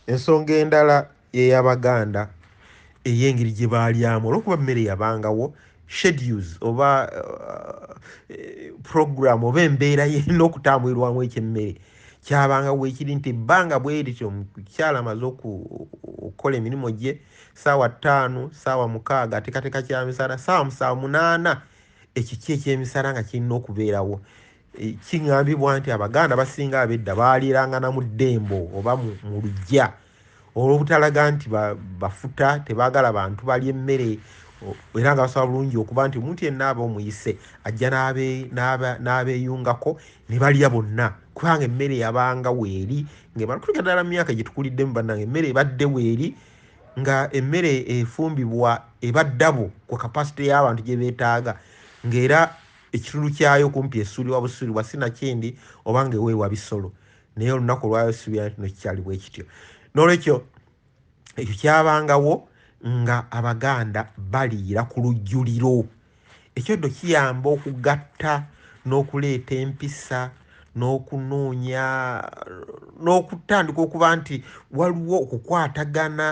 Ensonga endala ye y'Abaganda ey'engeri gye baalyamu olw'okuba emmere yabangawo schedules oba eh, program oba embeera yerina okutambulirwamu ekyemmere kyabanga wekiri nti ebbanga bwerityo omukyala amaze okukola emirimu gye saawa ttaano saawa mukaaga atekateka kyamisala saawa musaawa munaana ekiki ekyemisala nga kirina okubeerawo Kigambibwa nti Abaganda abasinga ab'edda baaliirangana mu ddembo oba mu luggya olw'obutalaga nti bafuta, tebaagala bantu balya emmere era nga basobola bulungi okuba nti omuntu yenna aba omuyise ajja n'abeeyungako ne balya bonna kubanga emmere yabanga weeri ng'emala kulika ddala mu myaka gye tukuliddemu bannange emmere ebadde weeri nga emmere efumbibwa eba ddabo ku kapasite y'abantu gye beetaaga ng'era ekitulu kyayo kumpi esuulibwa busuulibwa sinakindi oba nga eweebwa bisolo naye olunaku olwayo suubira nti nokikyali bwe kityo n'olwekyo ekyo kyabangawo nga abaganda baliira ku lujjuliro ekyo ddo kiyamba okugatta n'okuleeta empisa n'okunoonya n'okutandika okuba nti waliwo okukwatagana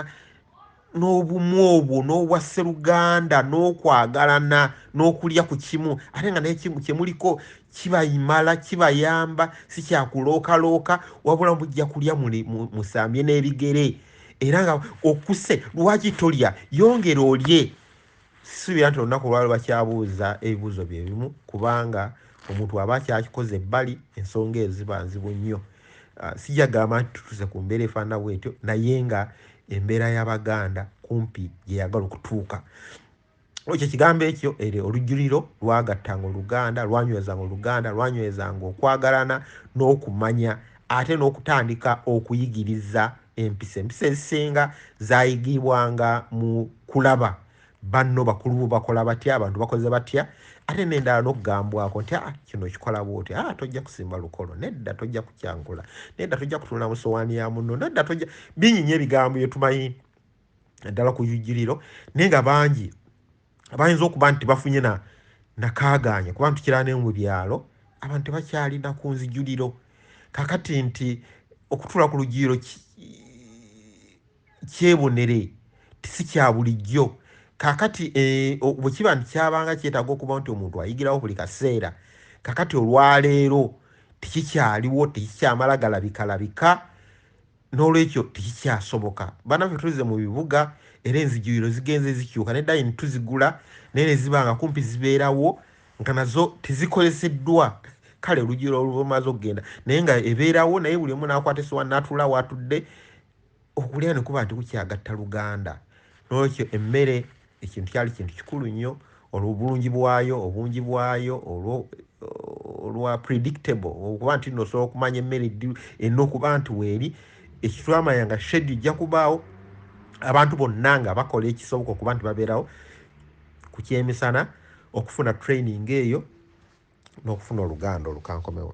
n'obumu obwo n'obwa sseruganda n'okwagalana n'okulya ku kimu ate nga naye kyemuliko kibayimala kibayamba si kyakulookalooka wabula mujja kulya musambye n'ebigere era nga okuse lwaki tolya yongera olye sisuubira nti olunaku olwalo bakyabuuza ebibuuzo bye bimu kubanga omuntu aba akyakikoze ebbali ensonga ezo ziba nzibu nnyo ah, sijagamba nti tutuuse ku mbeera efaanana bwetyo naye nga embeera y'abaganda kumpi gye yagala okutuuka ekyo ekigambo ekyo ere olujjuliro lwagattanga oluganda lwanywezanga oluganda lwanywezanga okwagalana n'okumanya ate n'okutandika okuyigiriza empisa empisa ezisinga zayigibwanga mu kulaba banno bakulu bo bakola batya abantu bakoze batya ate nendala nokugambwako nti ah, kino kikola bwoti ah, tojja kusimba lukolo nedda tojja kukyangula nedda tojja kutunula mu sowaani ya munno nedda tojja binyinya ebigambo byetumanyi naddala ku yujiriro naye nga bangi abayinza okuba nti bafunye na nakagaanya kuba ntukira ne mu byalo abantu tebakyalina ku nzijuliro kakati nti okutula ku lugiyiro kyebonere tisi kya bulijjo kakati eh, bwe kiba nti kyabanga kyetaaga okuba nti omuntu ayigirawo buli kaseera kakati olwaleero tekikyaliwo tekikyamala galabikalabika n'olwekyo tekikyasoboka banaffe tuzze mu bibuga era enzijuliro zigenze zikyuka ne dayini tuzigula naye ne ziba nga kumpi zibeerawo nga nazo tezikoleseddwa kale olujula olumaze okugenda naye nga ebeerawo naye buli omu n'akwata esowa n'atula watudde okulya ne kuba nti kukyagatta luganda n'olwekyo emmere ekintu kyali kintu kikulu nnyo olwobulungi bwayo obungi bwayo olwa predictable okuba nti no osobola okumanya emmere ddi erina okuba nti weeri ekitwamanya nga shedi ojja kubaawo abantu bonna nga bakola ekisoboka okuba nti babeerawo ku kyemisana okufuna training eyo n'okufuna oluganda olukankomewo